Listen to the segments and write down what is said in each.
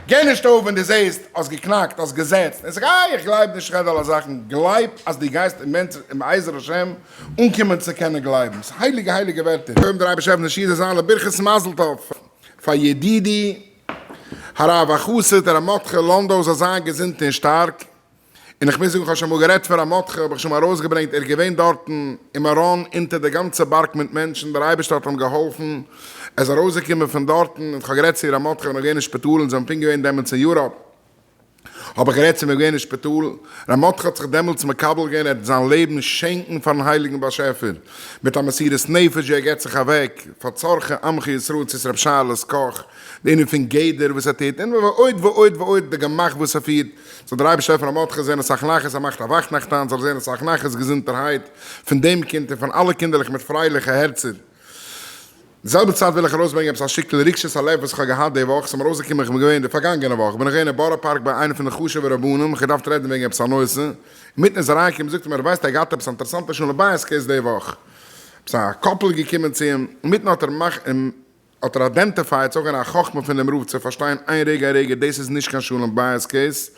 גיי נישט אויף ווען דו זעסט האסט געקנאקט האסט געזעצט און זאג איי איך גלייב נישט רעד אלע זאכן גלייב אז דו גייסט בעזר השם אנקומען צו קענען גלייבן ס'איז הייליגע הייליגע ווערטער געבן דער אייבערשטער אויף נשיאת זיין לברכת מזל טוב פאר ידידי הרב החסיד ר' מרדכי לאנדא זאל זיין געזונט און שטארק און איך מוז זאגן, כ'האב שוין אמאל גערעדט פאר א מו ח, האב איך שוין אמאל ארויסגעברענגט, ער איז געווען דארטן אין מירון אונטער די גאנצע בארג מיט מענטשן, דער אייבערשטער האט אים געהאלפן, ער איז ארויסגעקומען פון דארטן, און כ'האב גערעדט צו איר א מו ח ווען ער איז געווען אין שפיטאל, און זיי האבן פונקט געווען דעמאלטס אין יוראפ, האב איך גערעדט צו אים, ער איז געווען אין שפיטאל, ר' מו ח האט זיך דעמאלטס מקבל געווען, ער וועט זיין לעבן שענקן פארן הייליגן באשעפער, מיט א מסירות נפש ווי ער געבט זיך אוועק, פאר צרכי עמך ישראל, צו איז ר' שאלעס קאך, די ענין פון גדר וואס ער טוט, און ועוד ועוד ועוד, די גמח וואס ער פירט, זאל דער אייבערשטער פון אמתך זען אסאך נחת, ער מאכט אוואך נאכטאנץ, זאל ער זען אסאך נחת, געזונטערהייט, פון דעם קינד און פון אלע קינדערלעך מיט פרייליכע הערצער. די זעלבע צייט וויל איך ארויסברענגען עפעס א שטיקל רגשות הלב וואס איך האב געהאט די וואך, ס'איז מיר אויסגעקומען איך בין געווען די פארגאנגענע וואך בין איך געווען אין בארא פארק ביי איינע פון די חשובע רבנים, איך האב געדארפט רעדן וועגן עפעס א נושא, אינמיטן איז אריינגעקומען זאגט ער מיר ער ווייסט ער האט געהאט עפעס א אינטערעסאנטע שלום בית קעיס די וואך, עפעס א קאפל איז געקומען צו אים, אינמיטן האט ער האט ער איידענטיפייעט זאגאר א חכמה פון דעם רב צו פארשטיין איין רגע א רגע דאס איז נישט קיין שלום בית קעיס,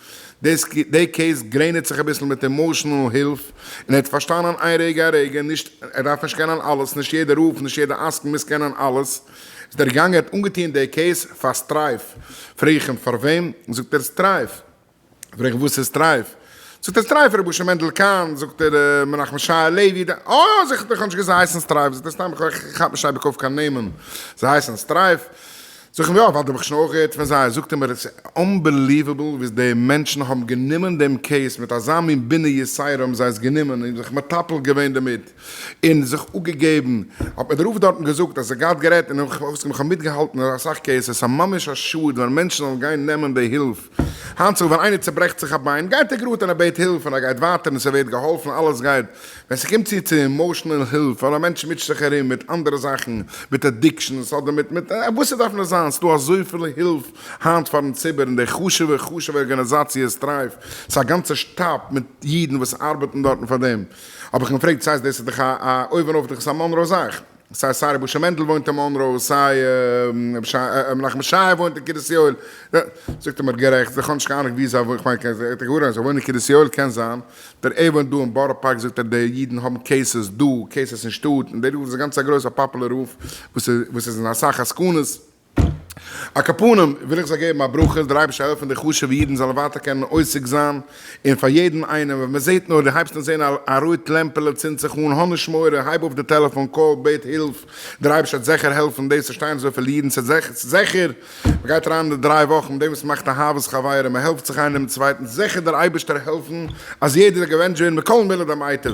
דאס די קעיס גרעניצט זיך אביסל מיט אימאשענעל הילף, און ער האט פארשטאנען איין רגע א רגע נישט ער דארף נישט קענען אלעס נישט יעדע רב נישט יעדע עסקן מוז קענען אלעס, איז דער געגאנגען ער האט אנגעטוען די קעיס פאר סטרייף, פרעג איך אים פארוועם? זאגט ער סטרייף. פרעג איך וואס איז טרייף? זאגט ער סטרייף רבי משה מענדל קאהן, זאגט ער מנחם שי הלוי, אה זאג איך איך האב נישט געוואוסט זיי הייסן סטרייף, זאגט ער סתם איך כאפ נישט אייביג אויף קיין נעמען, זיי הייסן סטרייף, זאג איך אים יא ווייל דא האב איך שוין אויך געהערט פון זיי, זאגט ער מיר עס איז אנבעליוועבל וואס די מענטשן האבן גענומען דעם קעיס מיט אזא מין בינה יסיירא האבן זיי עס גענומען און זיך מטפל געווען דערמיט. און זיך אפגעגעבן, האט מיר דער רב דארטן געזאגט אז ער גייט גערעדט און איך האב מיטגעהאלטן אין אסאך קעיסעס, סא ממש א שאד ווען מענטשן זאלן גיין נעמען די הילף, היינט צו ווען איינער צוברעכט זיך א ביין גייט ער גראד און ער בעט הילף און ער גייט ווייטער און ס'ווערט געהאלפן אלעס גייט, ווען ס'קומט צו צו אימאשענעל הילף ווייל א מענטש מוטשט זיך ארום מיט אנדערע זאכן מיט אדיקשאנס אדער מיט מיט וואס ס'דארף נאר זיין, ס'דא אזויפיל הילף היינט פארן ציבור און די חשובע חשובע ארגאניזאציע סטרייף, ס'איז א גאנצע שטאב מיט אידן וואס ארבעטן דארטן פאר דעם. האב איך געפרעגט סאיז דאס איז דאך א א אויבן אויף דאך איז א מאנראו זאך סאיז סיי רבוש ע מענדל וואוינט אין מאנראו סיי רבי מנחם ישעי' וואוינט אין קרית יואל זאגט ער מיר גערעכט זיך האניש קיין אנונג ווי זיי וואוינען כ'מיין כ'זעה איך געהערט אז זיי וואוינען אין קרית יואל קען זיין דער ער וואוינט דא אין בארא פארק זאגט ער די אידן האבן קעיסעס דא קעיסעס אין שטאט און דער רוף איז גאנץ א גרויסע פאפולער רוף וואס איז אין אסאך עסקנות. א כפנים וויל איך זיי געבן א ברכה אז דער אייבערשטער העלפן די חשוב'ע אידן זאלן ווייטער קענען עוסק זיין אין פאר יעדן איינעם ווען מען זעט נאר די הייבסט אן זען א רויט לעמפעלע צינד זיך אן האב נישט מורא הייב אויף די טעלעפאן קאל בעט הילף דער אייבערשטער וועט זעכער העלפן דאס צו שטיין אזויפיל אידן ס'איז זעכער מען גייט אריין אין די דריי וואכן מיט דעם וואס מ'מאכט אהבת חברים מען העלפט זיך איינער דעם צווייטן זעכער דער אייבערשטער העלפן אז יעדער זאל געבענטשט ווערן בכל מילי דמיטב.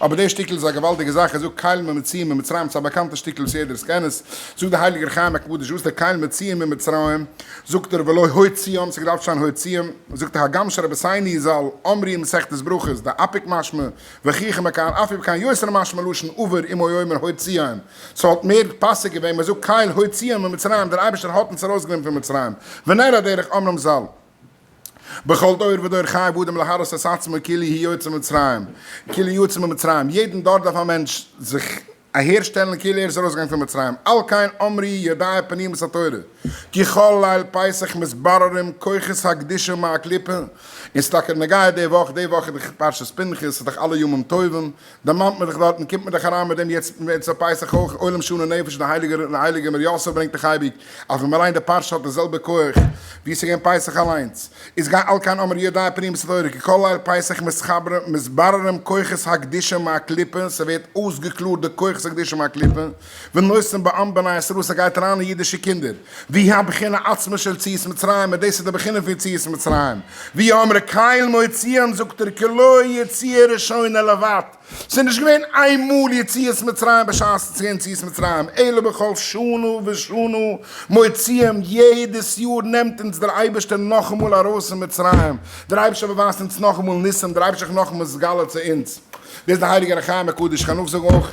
אבער די שטיקל איז א געוואלדיגע זאך, ער זאגט קהל ממציא ממצרים, ס'איז א באקאנטע שטיקל וואס יעדער סקען עס, זאגט דער הייליגער חיים הקדוש וואס דער קהל מציאה ממצרים, זאגט ער ולא הוציאם, ס'האט געדארפט שטיין הוציאם, זאגט דער הגם שרבי סיני זל אמרי אין מסכת ברכות, די אפיק משמע, וכי כמה כאן אפי' וכאן יותר משמע לשון עבר אם הוא היה אומר הוציאם, ס'וואלט מער פאסיג געווען מ'זאגט קהל הוציאם ממצרים, דער אייבערשטער האט אונז ארויסגענומען פון מצרים, ונראה דרך אמרם זל. בכל דור ודור חייב אדם להראות את עצמו כאילו הוא יצא ממצרים, כאילו יצא ממצרים, יעדן דור דארף א מענטש זיך אהערשטעלן כאילו ער איז ארויסגעגאנגען פון מצרים, על כן אמרי ידעי פנימית התורה, כי כל ליל פסח מתבררים כוחות הקדושה מהקליפה, און ס'איז טאקע נוגע די וואך, די וואך איז דאך פרשת פנחס, ס'איז דאך אלע ימים טובים, דערמאנט מען זיך דארט, מען קומט מען דאך אריין מיט דעם יעצט צו פסח אויך, עולם שנה נפש, די הייליגע מר יאסעלע ברענגט דאך אייביג אז ווען מען ליינט די פרשה האט די זעלבע כח ווי עס איז געווען פסח אליינס, איז גיי אל קיין אמר יודעי פנימית התורה כי כל ליל פסח מתבררים כוחות הקדושה מהקליפה, ס'ווערט אויסגעקלארט די כוחות הקדושה מהקליפה. ונושאים בעם בני ישראל וואס ער גייט אריין אין אידישע קינדער, והיא הבחינה עצמה של ציית מצרים, און דאס איז די בחינה פון יציאת מצרים, ווי האמרי קהל מוציאם זאגט ער כלא יציאה ראשונה לבד, ס'איז נישט געווען איין מאל יציאת מצרים בשעת ס'איז געווען יציאת מצרים, אלא בכל שנה ושנה מוציאם, יעדעס יאר נעמט אונז דער אייבערשטער נאכאמאל ארויס פון מצרים, דער אייבערשטער באווייזט אונז נאכאמאל ניסים, דער אייבערשטער איז זיך נאכאמאל מגלה צו אונז, דאס איז דער הייליגער החיים הקדוש, איך קען נאכזאגן אויך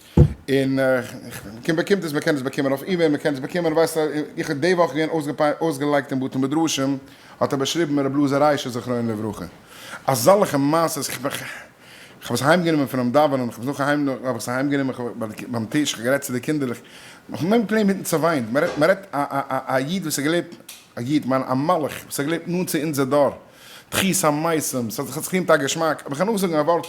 און כ באקומט עס, מ'קען עס באקומען אויף אימעיל, מ'קען עס באקומען, ווייסט א, איך האב די וואך געווען אויסגעפענט אויסגעלייגט אין בתי מדרשים, האט ער באשריבן מיר ר' אלעזר ריישער זכרונו לברכה, אזאלכע מעשות, כ'האב עס אהיים גענומען פונעם דאווענען, כ'האב עס נאך אהיים, האב איך עס אהיים גענומען, כ'האב ביים טיש, כ'האב גערעדט צו די קינדערלעך, כ'האב נאר געפלענט מיטן צעוויינט, מ'רעדט, מ'רעדט א איד וואס האט געלעבט, א איד, מיין א מלאך, וואס האט געלעבט נאנט צו אונזער דור. תחית המתים, ס'האט זיך עס געטוהן טאקע געשמאק, אבער כ'קען נאך זאגן א ווארט,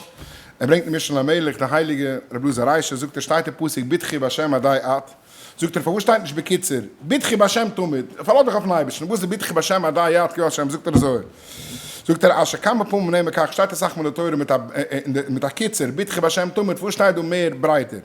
ער ברענגט אין משנה למלך, די הייליגע רבי אלעזר ריישער זאגט עס שטייט אין פסוק בטחי בשם עדי את, זאגט ער פארוואס שטייט נישט בקיצור, בטחי בשם תמיד, פארלאז דיך אויפן אייבערשטן, וואס איז בטחי בשם עדי את כי ה' זאגט ער אזוי, זאגט ער אשר כמה פעמים נאמר כך שטייט אסאך מאל אין די תורה מיט א קיצור, בטחי בשם תמיד, פארוואס שטייט דא מער ברייטער.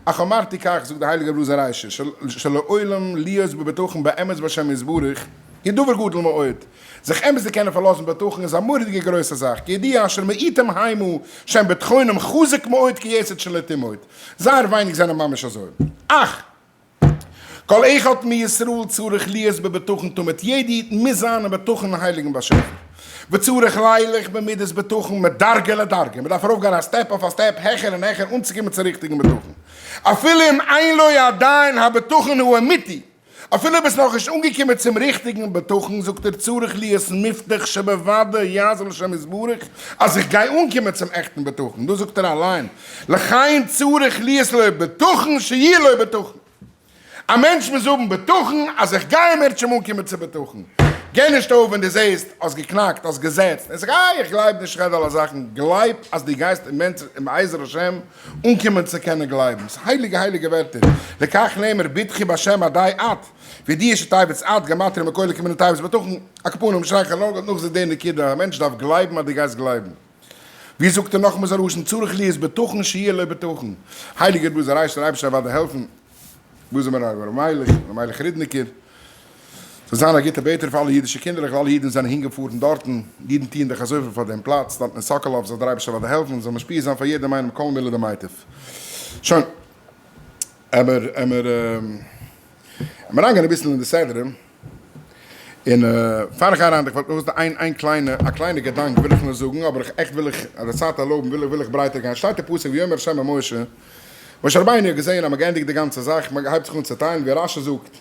אך אמרתי כך, זאגט דער הייליגער בלאזער ריישא של של לעולם להיות בבטחון באמת בהשם יתברך היא דבר גדול מאוד, זיך אמת צו קענען פארלאזן בטחון איז א מורא'דיגע גרויסע זאך, כידיעה אשר מעטים היימו שהם בטחונם חזק מאוד כיסוד של נטימות, זייער ווייניג זענען ממש אזוי, אך. כל אחד מישראל צריך להיות בבטחון תמיד, יעדע איד מוז זיין אין בטחון אין הייליגן באשעפער, וצריך לילך במידת בטחון מדרגה לדרגה, מ'דארף ארויף גיין א סטעפ אויף א סטעפ העכער און העכער אנצוקומען צום ריכטיגן בטחון, אפילו אם אין לו עדיין הבטחון האמיתי, אפילו ביסט נאכנישט אנגעקומען צום ריכטיגן בטחון, זאגט ער צריך להיות מבטח שבוודאי יעזור לשם יתברך אז איך גיי אנקומען צום עכטן בטחון, דאס זאגט ער אליין, לחיים צריך להיות לו בטחון שיהיה לו בטחון, א מענטש מוז האבן בטחון אז איך גיי אים ער וועט שוין אנקומען צו בטחון, גיב נישט אויף ווען דו זעסט האסט געקנאקט האסט געזעצט און זאג איי איך גלייב נישט רעד אלע זאכן גלייב אז דו גייסט בעזר השם אנקומען צו קענען גלייבן, ס'איז הייליגע הייליגע ווערטער, וכך נאמר בטחי בהשם אודאי את וידיעה שתאבד את, גמטריא מכל הקמין התאבד בטחון, הקפונים שרייך א נאגעל נאך זיך די נקודה, א מענטש דארף גלייבן אז דו גייסט גלייבן. ווי זאגט דער נחום זאב ראשון צריך להיות בטחון שיהיה לו בטחון, הייליגער בוזער הייסט דער אייבערשטער אוודאי העלפן בוזער מרן רבי אלימלך, רבי אלימלך רודניקער, זאל זיין א גוטער בעטער פאר אלע אידישע קינדערלעך, אלע אידן וואס זענען הינגעפארן דארטן, אידן טוען דאך אזויפיל פאר דעם פלאץ דארטן אין סאקאלאוו, זאל דער אייבערשטער אוודאי העלפן, זאל משפיע זיין פאר יעדעם איינעם כל מילה דמיטב. שוין, עמער עמער עמער אריינגיין אביסל אין די סדרים. און פאר איך גיי אריין דערפאר נאר וואס איין איין קליינע א קליינע געדאנק וויל איך נאר זאגן אבער איך עכט וויל איך אז די צייט ערלויבן וויל איך וויל איך ברייטער גיין שטייט אין פסוק ויאמר ה' אל משה משה רבינו האט געזעהן אז מען גענדיגט די גאנצע זאך מען הייבט זיך אן צוטיילן ווי רש י זאגט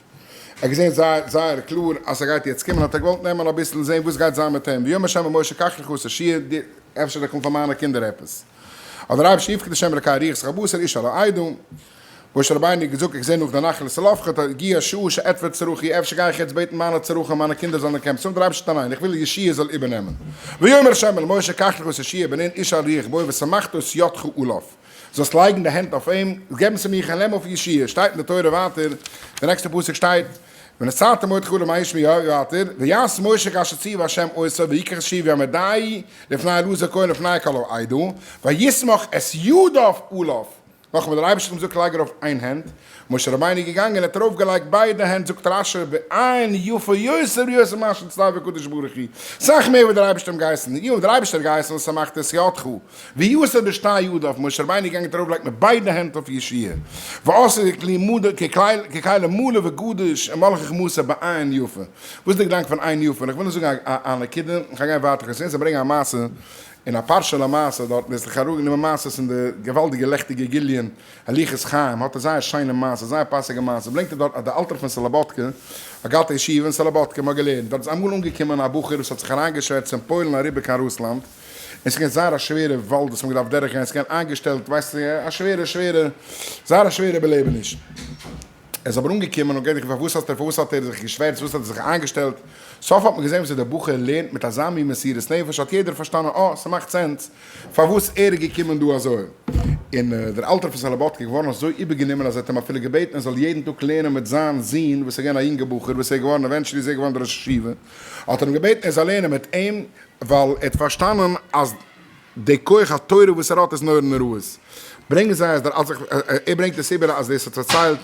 ער האט געזעהן זייער זייער קלאר אז ס'גייט יעצט קומען האט ער געוואלט נעמען אביסל זעהן וואס גייט זיין מיט אים ויאמר ה' אל משה קח לך עשר שיעור די אפשר איך קום פאר מיינע קינדער עפעס האט דער אייבערשטער יפקד ה' אלקי אריח זיך א בשר איש על העדה משה רבינו האט געזאגט, איך זע נאך די נחל צלפחד, הגיעה השעה שאעטפר צרכי, אפשר גיי איך יעצט בעטן מיינע צרכים, מיינע קינדער זאלן אנקומען צום רבשטן, ניין, איך וויל ישעי' זאל איבערנעמען. ויאמר ה' אל משה, קח לך את ישעי' בן נון איש אל ריח בו ושמחת את ידך עליו, זאלסט לייגן די הענט אויף אים, געבן צו מיך, און נעם אויף ישעי', שטייט אין די תורה ווייטער, די נעקסטע פסוק שטייט, ונשאת מאד חלב מאי ישמי יאיר ווייטער, ויעש משה כאשר ציוה ה' עשה, ויקח את ישעי' ויעמדיה לפני אלעזר כהן ולפני כל העדה, וישמח את ידיו עליו, נאכן וואס דער אייבערשטער האט געזאגט לייג ארויף איין הענט, משה רבינו איז געגאנגען און האט ארויף געלייגט ביידע הענט, זאגט רש י בעיין יפה יותר יותר ממה שציווה הקדוש ברוך הוא, סאך מער ווי דער אייבערשטער האט אים געהייסן, אי האט דער אייבערשטער געהייסן אז ער מאכט את ידך ויסר בשתי ידיו, און משה רבינו איז געגאנגען האט ארויף געלייגט מיט ביידע הענט אויף ישעי' ועשה ככלי מלא וגדוש און מלא חכמתו בעיין יפה, וואס איז דער געדאנק פון עיין יפה? און איך וויל נאר זאגן א נקודה, איך האב גיין ווייטער, כ'האב געזעהן זיי ברענגען א מעשה. און א פרשה למעשה דארטן איז זיך אראפגענומען מעשה'ס אין די געוואלדיגע לעכטיגע גיליון הליכות חיים האט ער זייער שיינע מעשה זייער פאסיגע מעשה ברענגט ער דארט אז די אלטער פון סלאבאדקע א גאטע ישיבה אין סלאבאדקע מ'האט געלערנט דארט איז אמאל אנגעקומען א בחור וואס האט זיך אריינגעשווערצט פון פוילן אריבער קיין רוסלאנד און ס'געווען זייער א שווערע וואלד וואס מ'האט געדארפט דורך גיין ס'געווען איינגעשטעלט ווייסט א שווערע שווערע זייער א שווערע בעלעבעניש. ער איז אבער אנגעקומען און געדעכט פארוואס האסטו פארוואס האט ער זיך געשווערצט וואס האט ער זיך איינגעשטעלט סוף האט מען געזעהן וואס דער בחור לערנט מיט אזא מין מסירות נפש האט יעדער פארשטאנען אה ס'מאכט סענס פארוואס ער איז געקומען דא אזוי און דער אלטער פון סאלאבאדקע איז געווארן אזוי איבערגענומען אז ער האט אים אפילו געבעטן ער זאל יעדן טאג לערנען מיט זיין זון וואס איז געווען א יונגער בחור וואס ער איז געווארן עווענטשעלי איז ער געווארן דער ראש ישיבה האט ער אים געבעטן ער זאל לערנען מיט אים ווייל ער האט פארשטאנען אז די כח התורה וואס ער האט איז נורא נוראות. ברענגען זיי אז דער אלץ איך, ער ברענגט עס איבער אז דאס האט פארציילט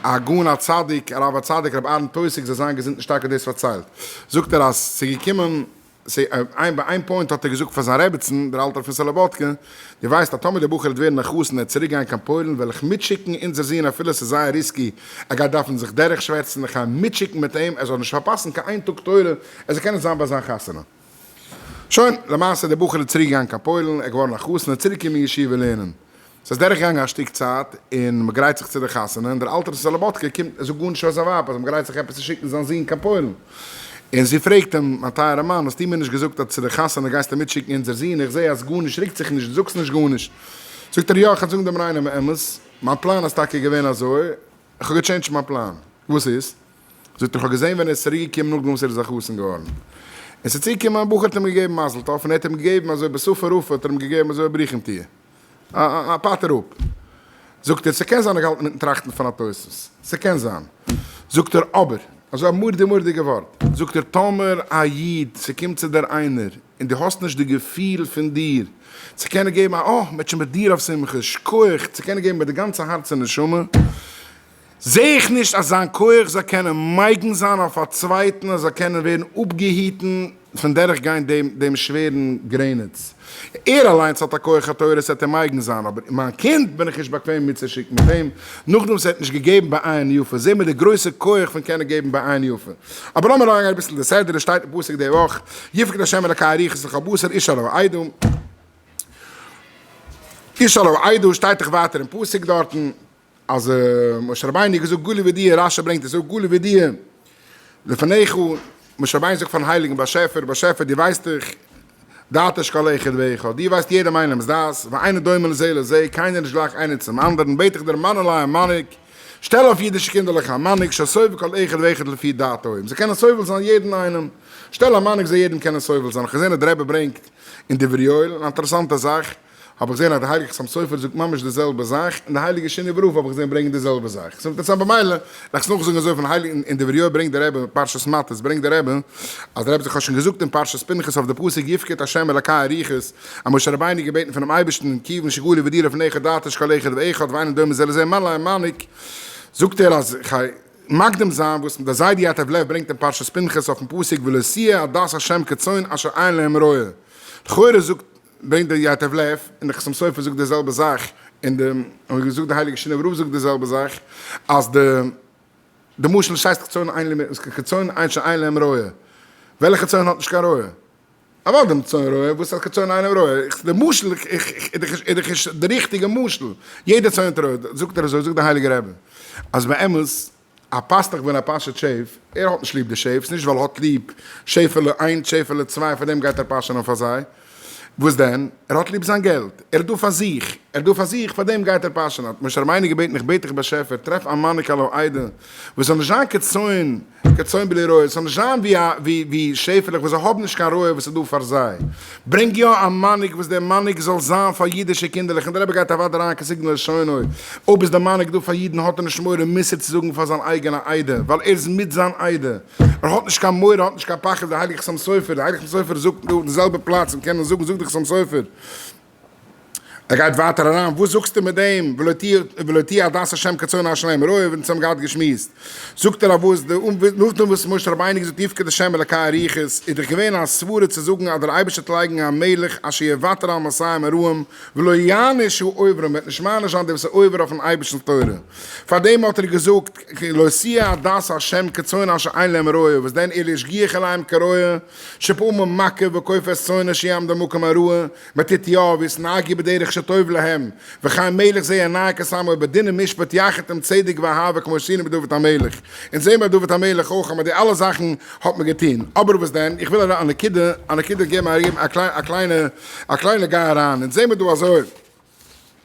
הגאון הצדיק הרב הצדיק רבי אהרן טויסיג זאל זיין געזונט און שטארק האט דאס פארציילט, זאגט ער אז ס'איז געקומען, איין ביי איין פוינט האט ער געזאגט פאר זיין רעבעצן דער אלטער פון סאלאבאדקע, דו ווייסט אז טאמער דער בחור וועט ווערן א חתן און צוריק גיין קיין פוילן וועל איך מיטשיקן אונזער זון אפילו ס'איז זייער ריסקי ער גייט דארפן זיך דורך שווערצן איך גיי מיטשיקן מיט אים ער זאל נישט פארפאסן קיין איין טאג תורה ער זאל קענען זיין ביי זיין חתונה. שוין, למעשה דער בחור איז צוריק געגאנגען קיין פוילן, ער איז געווארן א חתן, ער איז צוריק געקומען אין ישיבה לערנען. ס'איז דורך געגאנגען א שטיק צייט, און מען גרייט זיך צו דער חתונה, און דער אלטער סאלאבאטקע קומט און זאגט גארנישט פאר זיין ווייב אז מען גרייט זיך עפעס צו שיקן זיין זון קיין פוילן. און זי פרעגט אים, מיין טייערער מאן, האסטו מיר נישט געזאגט אז צו דער חתונה גייסטו מיט שיקן אונזער זון, איך זעה אז גארנישט רוקט זיך נישט, דו זאגסט נישט גארנישט. זאגט ער, יא, איך וועל זאגן דעם ריינעם אמת, מיין פלאן איז טאקע געווען אזוי, איך האב געטשענדזשט מיין פלאן. וואס איז? זאגט ער איך האב געזעהן ווען ער איז צוריק געקומען נאכדעם וואס ער איז א חתן געווארן און ס'איז צוגעקומען א בחור האט אים געגעבן מזל טוב און ער האט אים געגעבן אזוי בשפה רפה האט ער אים געגעבן אזוי א ברוכים תהיה א א א פאטער אפ זאגט ער ס'קען זיין ער האט געהאלטן מיטן טראכטן פון א תוספות ס'קען זיין זאגט ער אבער אזוי א מורדי מורדיגע ווארט זאגט ער טאמער א איד ס'קומט צו דיר איינער און דו האסט נישט די געפיל פון דיר צו קענען געבן א אה מ'העט שוין מיט דיר אויף שמחה שכוח צו קענען געבן מיט די גאנצע הארץ און נשמה זע איך נישט אז זיין כח זאל קענען מגן זיין אויף א צווייטן אז ער זאל קענען ווערן אפגעהיטן פון דורך גיין דעם דעם שווערן גרעניץ. ער אליינס האט א כח התורה עס וועט אים מגן זיין אבער מיין קינד בין איך נישט באקוועם מיטצושיקן מיט אים נאכדעם וואס ער האט נישט געגעבן בעין יפה. זע מיר די גרויסע כח פון קענען געבן בעין יפה. אבער לאמיר אריינגיין אביסל די סדר עס שטייט אין פסוק די וואך יפקד השם אלקי אריכות לכל בשר איש עליו עדה איש עליו עדה שטייט דאך ווייטער אין פסוק דארטן. אז משה רבינו האט געזאגט גולי וידיעה, רשי ברענגט עס אויך, גולי וידיעה לפניך, משה רבינו זאגט פארן הייליגן באשעפער, באשעפער דו ווייסט דאך דעת אש כל אחד ואחד, דו ווייסט יעדעם איינעמ'ס דעת, ואינו דומה לזה לזה, קיינער איז נישט גלייך איינער צום אנדערן, בעט איך דיר מאן אליי א מנהיג, שטעל אויף אידישע קינדערלעך א מנהיג שסובל כל אחד ואחד לפי דעתו, און זיי קענען סובל זיין יעדן איינעם, שטעל א מנהיג זאל יעדעם קענען סובל זיין, כ'זע אז דער רבי ברענגט אין דברי יואל אן אינטערעסאנטע זאך, האב איך געזען אז די הייליגע חתם סופר זאגט ממש די זעלבע זאך, און די הייליגע שני ורבוא האב איך געזען ברענגען די זעלבע זאך, איז אינטערעסאנט במילא לאכסט נאכזאגן אזוי פון הייליגן און אין די ויריעה ברענגט דער רבי פרשת מטות ברענגט דער רבי אז דער רבי האט זיך שוין געזאגט אין פרשת פנחס אויף די פסוק יפקד ה' אלקי אריכות אז משה רבינו האט געבעטן פונעם אייבערשטן כיוון שגלי ודירה פון איכה דאתית שכל איכות ואחד ואין דומה זה לזה מלא אין מנהיג זאגט ער אז כדי מקדים זיין וואס דער זיידי יטב לב ברענגט אין פרשת פנחס אויפן פסוק ולא סייע עדת ה' כצאן אשר אין להם רועה לכאורה זאגט ברענגט דער ייטב לב, און דער חתם סופר זאגט די זעלבע זאך, און די און געזאגט די הייליגע שינאווער רב זאגט די זעלבע זאך, אז די די משל שייסט כצאן אין לע כצאן אין שאין להם רועה, וועלכע צאן האט נישט קיין רועה? אמאל דעם צאן רועה וואס האט כצאן אין להם רועה, איך די משל איך איך איז דאך איז דאך די ריכטיגע משל, יעדע צאן האט רועה, זאגט ער אזוי זאגט די הייליגע רבי, אז באמת. א פאסטעך ווען א פאשעט שעיף, ער האט נישט ליב די שעיפס, נישט ווייל ער האט ליב שעיפעלע איינס שעיפעלע צוויי פאר דעם גייט ער פאשענען פאר זיי, וואס דען, ער האט ליב זיין געלט, ער איז דא פאר זיך, ער איז דא פאר זיך פאר דעם גייט ער פאשענען, האט משה רבינו געבעטן איך בעט דיך באשעפער טרעף א מנהיג על העדה וואס זאל נישט זיין כצאן כצאן בלי רועה, עס זאל נישט זיין ווי שעיפעלעך וואס זיי האבן נישט קיין רועה וואס איז דא פאר זיי, ברענג יא א מנהיג וואס דער מנהיג זאל זיין פאר אידישע קינדערלעך און דער רבי גייט אוודאי אריין קיין סיגנא לשונו, אויב איז דער מנהיג דא פאר אידן האט ער נישט מורא מוסר צו זאגן פאר זיין אייגענע עדה ווייל ער איז מיט זיין עדה, ער האט נישט קיין מורא האט נישט קיין פחד, דער הייליגער חתם סופר, דער הייליגער חתם סופר זאגט דא אויף די זעלבע פלאץ און קען עס זאגן זאגט דער חתם סופר. ער גייט ווייטער אריין, וואס זאגסטו מיט דעם ולא תהיה עדת השם כצאן אשר להם רועה, ווען עס האבן געהאט געשמועסט, זאגט ער א וואס די, נאכדעם וואס משה רבינו געזאגט יפקד ה' אלקי אריכות, איז דאך געווען א סברה צו זאגן אז דער אייבערשטער וועט לייגן א מלך אשר יוותר על מסיים הרעים ולא יעניש העוברים, וועט נישט מעניש זיין די וואס איז עובר אויפן אייבערשטנ'ס תורה, פארדעם האט ער געזאגט לא תהיה עדת השם כצאן אשר אין להם רועה, וואס דען ער השגיח עליהם כרועה שפעמים מכה וכופף צאנו שיעמדו על מקום הרועה, מתתיהו וישנאק י בדרך שטוב להם, וחיים מלך זי ע נאה כסם אויב בדין ומשפט יחד עם צדק ואהבה כמו שעשינו מיט דוד המלך, אונז זעהן ביי דוד המלך אויך אז מיט די אלע זאכן האט מען געטוהן, אבער וואס דען, איך וויל א נקודה א נקודה געבן א קליינע א קליינע גיי אריין, אונז זעהן מיר דא אזוי.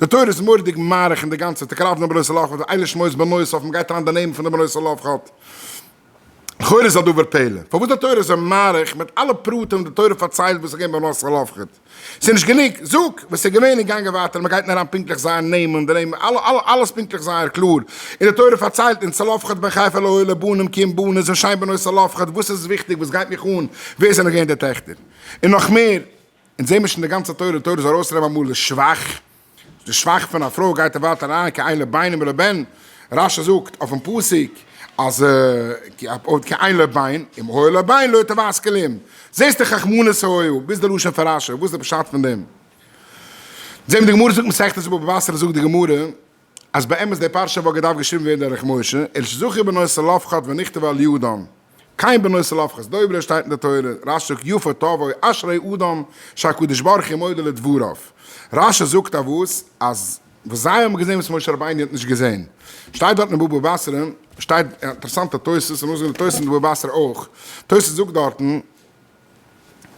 די תורה איז מורא'דיג מאריך אין די גאנצע תקלה פון די בנות צלפחד, איינער שמועסט בנוסף און מ'גייט אריין די נעמען פון די בנות צלפחד, לכאורה איז א דבר פלא פארוואס די תורה איז אזוי מאריך מיט אלע פרטים וואס די תורה פארציילט וואס איז געווען ביי בנות צלפחד, ס'איז נישט גענוג, זאג וואס איז געווען און גאנג ווייטער און מ'גייט אריין פונקטליך זייער נעמען, די נעמען, אלע אלע אלעס פונקטליך זייער קלאר, און די תורה פארציילט אונז צלפחד בן חיפה לוי לבנים כי אם בנות און שיין בנות צלפחד, וואס איז וויכטיג וואס גייט מיך אן ווער זענען געווען די טעכטער, און נאך מער. אונז זעמער שוין די גאנצע תורה, תורה איז ארויס רוב אמאל די שוואך, די שוואך פון א פרוי גייט ווייט אריין כי אין לב בינם ולבן, רשי זאגט אויפן פסוק אז כי אין לב בין אם היה לב בין לא תבעס כלים, זעסט די חכמנות האוהל, ביז די לשון פון רשי, וואס איז די פשט פון דעם? זעמער די גמרא זאגט מסכת בבא בתרא זאגט די גמרא אז באמת די פרשה וואלט געדארפט געשריבן ווערן דורך משה, אל שזכור בנו צלפחד ונכתב על יהודן, קיין בנו צלפחד'ס דוברא שטייט אין די תורה, רש ק יפה תבוא אשרי אדם שהקדוש ברוך הוא מודה לדבריו, רש ש זאגט א וואס אז וואס זיי האבן געזען וואס משה רבינו האט נישט געזען, שטייט דארט אין בבא בתרא, שטייט אינטערעסאנטע תוס' און נאכזאגן די תוס' אין בבא בתרא אויך, תוס' זאגט דארטן.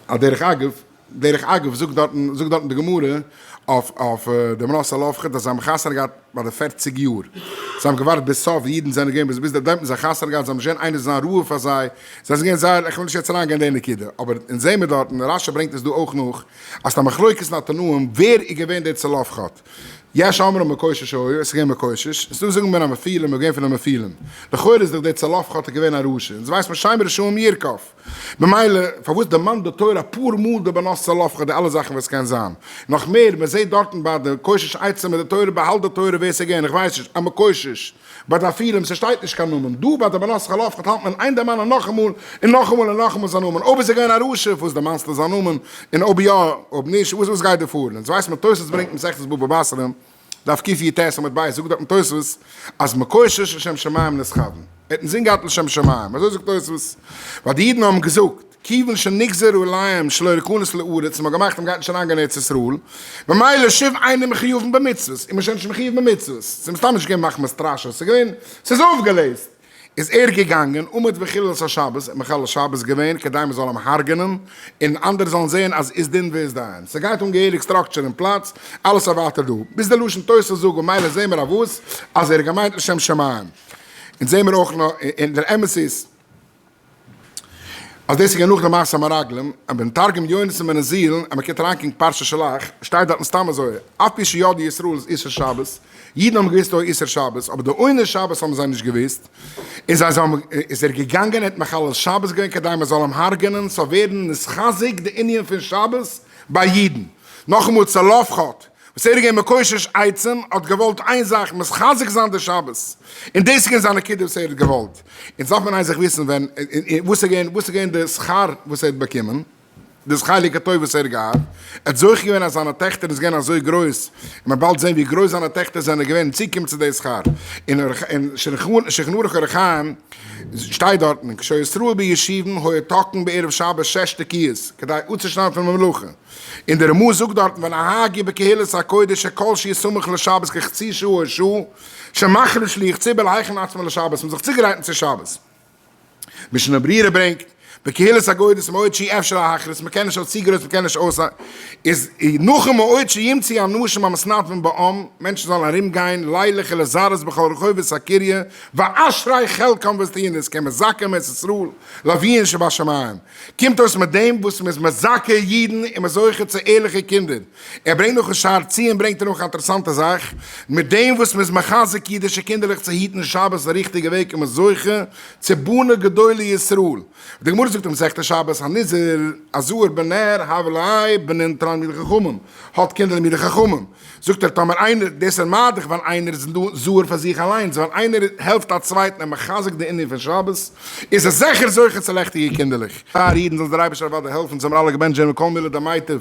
א דרך אגב, דרך אגב זאגט דארטן זאגט דארטן די גמרא אויף אויף די מנשה אל אבחר אז זיי האבן חתונה געהאט ביי די פֿערציק יאר, זיי האבן געווארט ביז סוף די אידן זענען געווען ביז ביז דעמאלט האבן זיי חתונה געהאט זיי האבן נישט געווען איינער זיין רועה פאר זיי, זיי זענען געווען זייער איך וויל נישט יעצט אריין גיין אין די נקודה, אבער אונז זעמער דארטן רש י ברענגט עס דא אויך נאך אז ס'איז א מחלוקת אין התנאים ווער איז געווען דער צלפחד, יש אומרים מקושש היה עס איז געווען מקושש, און ס'דא זאגן בין המפילים איז געווען פון די מפילים, לכאורה איז דאך דער צלפחד איז געווען א רשע, אונז ווייסט מען שיין מרשעים ירקב. במילא פארוואס דערמאנט די תורה אפאר מאל די בנות צלפחד די אלע זאכן וואס קען זיין? נאך מער מען זעהט דארטן ביי די קושש עצם מיט די תורה באהאלט די תורה ווער סאיז געווען איך ווייס נישט א מקושש ביי די אפרים סשטייט נישט קיין נאמען דא ביי די בנות צלפחד האלט מען איין דערמאנען נאכאמאל און נאכאמאל און נאכאמאל זיין נאמען אויב איז ער געווען א רשע פארוואס דערמאנסטו זיין נאמען און אויב יא אויב נישט וואס גיייט דא פאר און אונז ווייסט מען תוס' ברענגט מסכת בבא בסרא דף קיט י ט עמוד ב' זאגט דארטן תוספות אז מקושש לשם שמים נסחבן, ער האט אינזין געהאט לשם שמים, אזוי זאגט תוספות, ווייל די אידן האבן געזאגט, כיוון שנגזרו עליהם שלא יכנס לארץ און מ'האט געמאכט אז מ'גייט נישט אריינגיין אין ארץ ישראל, ממילא שוב אינער מחויבן במצוות, איז מען שוין נישט מחויב במצוות, ס'איז מסתם נישט געווען מחמת סטראשע, ס'איז געווען, ס'איז אויפגעלעזט. איז ער געגאנגען עומד בחילולת השבת און מחלל שבת געווען כדי מען זאל אים הרג'נען און אנדערע זאלן זעהן אז איז דין ואיז דיין ס'גייט אן געהעריג סטראקטשער און פלאץ אלעס אויף ווייטער דא ביז די לשון תוס' זאג און מילא זעהן מיר אויף וואס אז ער האט געמיינט לשם שמים און זעהן מיר אויך נאר און דער אמת איז אז דאס איז גענוג למעשה המרגלים, און ביים תרגום יונתן בן עזיאל, אז מען קוקט אריין קעגן פרשת שלח, שטייט דארטן סתם אזוי, אפי' שידעו ישראל איז איסור שבת, אידן האבן געוואוסט אוי איסור שבת, אבער די עונש שבת האבן זיי נישט געוואוסט, און זיי זיי איז ער געגאנגען ער האט מחלל שבת געווען כדי מען זאל אים הרג'ענען, סאו ווערן נתחזק די ענין פון שבת ביי אידן, נאכאמאל צלפחד, וואס ער איז געווען מקושש עצום, האט געוואלט איין זאך, מחזק זיין די שבת, און דאס איז געווען זיין נקודה וואס ער האט געוואלט, און עס דארף מען איין זאך וויסן, ווען, וואס איז געווען, וואס איז געווען די שכר וואס ער האט באקומען, דאס חלק הטוב וואס ער האט געהאט, ער האט זוכה געווען אז זיינע טעכטער איז געווען אזוי גרויס, און מען באלד זען ווי גרויס זיינע טעכטער זענען געווען צוגעקומען צו די שכר, און שולחן ערוך אור החיים שטייט דארטן, כשישראל בישיבם היה תקן בערב שבת שש תקיעות, כדי אפצושניידן פון די מלאכה. און די רמא זאגט דארטן ונהג יהיה בקהילת הקודש שכל שיהיה סמוך לשבת כחצי שעה או שעה שמכין שליח ציבור להכין עצמו לשבת מ'האט זיך צוגעגרייטן צו שבת משנה ברורה ברענגט בקהילת הגודס מועד שיהיה אפשר להכריז מ'קען נישט אויס צו גרויס מ'קען נישט אויס איז נאכן מועד שימצא אנשים המתנדבים בעם מענטשן זאלן ארום גיין לילה כ לזרז בכל רחובות הקריה ואשרי חלקם וואס טוען עס כמזכה מערת ישראל לאביהן שבשמים קומט אויס מיט דעם וואס מ'איז מזכה אידן און מ'איז זוכה צו ערליכע קינדער. ער ברענגט נאך אין שער ציון ברענגט ער נאך א אינטערעסאנטע זאך, מיט דעם וואס מ'איז מחזק אידישע קינדערלעך צו היטן שבת די ריכטיגע וועג איז מען זוכה צו בנים גדולי ישראל. די גמרא זאגט אין מסכת שבת הנזיר, הזהר בן נער, הבל א, בנין תלמידי חכמים, האט קינדער תלמידי חכמים. זאגט ער טאמער איינער דאס איז מיידעך ווייל איינער איז זהר פאר זיך אליינס ווייל איינער העלפט א צווייטן און מחזק די ענין פון שבת איז ער זעכער זוכה צו לעכטיגע קינדערלעך פאר אידן זאל דער אייבערשטער אוודאי העלפן זעמער אלע געבענטשט ווערן מכל מילה דמיטב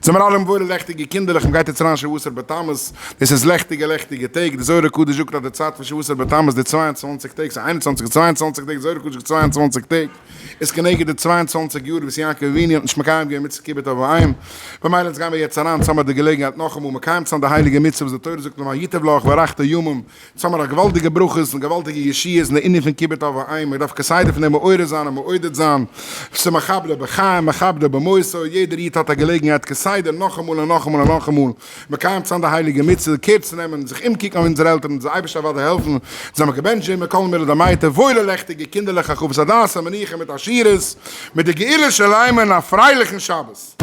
זעמער אלע מברר לעכטיגע קינדערלעך מ'גייט יעצט אריין שבו עשר בתמוז דאס איז לעכטיגע לעכטיגע טעג די זוהר הקדוש זאגט אז די צייט פון שבו עשר בתמוז די צוויי און צוואַנציק טעג ס'איז איין און צוואַנציק און צוויי און צוואַנציק טעג זוהר הקדוש זאגט צוויי און צוואַנציק טעג איז כנגד די צוויי און צוואַנציק יאר וואס יעקב אבינו האט נישט מקיים געווען מצוות כיבוד אב ואם, במילא אונז גייען מיר יעצט אריין, צו האבן מיר די געלעגנהייט נאכאמאל מקיים צו זיין די הייליגע מצוה וואס די תורה זאגט לומר ייטב לך וארכת ימים, צו האבן מיר א געוואלדיגע ברכות און געוואלדיגע ישועות אין די ענין פון כיבוד אב ואם, איך דארף כסדר פון דעם מעורר זיין און מעודד זיין, צו מכבדו בחיים מכבדו במותו, יעדער איד האט א געלעגנהייט כסדר נאכאמאל און נאכאמאל און נאכאמאל, מקיים צו זיין די הייליגע מצוה, קעיר צו נעמען און זיך אומקוקן אויף אונזערע עלטערן און זיי אייביג אוודאי העלפן, זיי האבן געבענטשט זשע מכל מלא דמייתא, וואוילע לעכטיגע קינדערלעך א חוות הדעת א מנוחה מיט עשירות, מיט די גאולה של עמנו א פרייליכן שבת.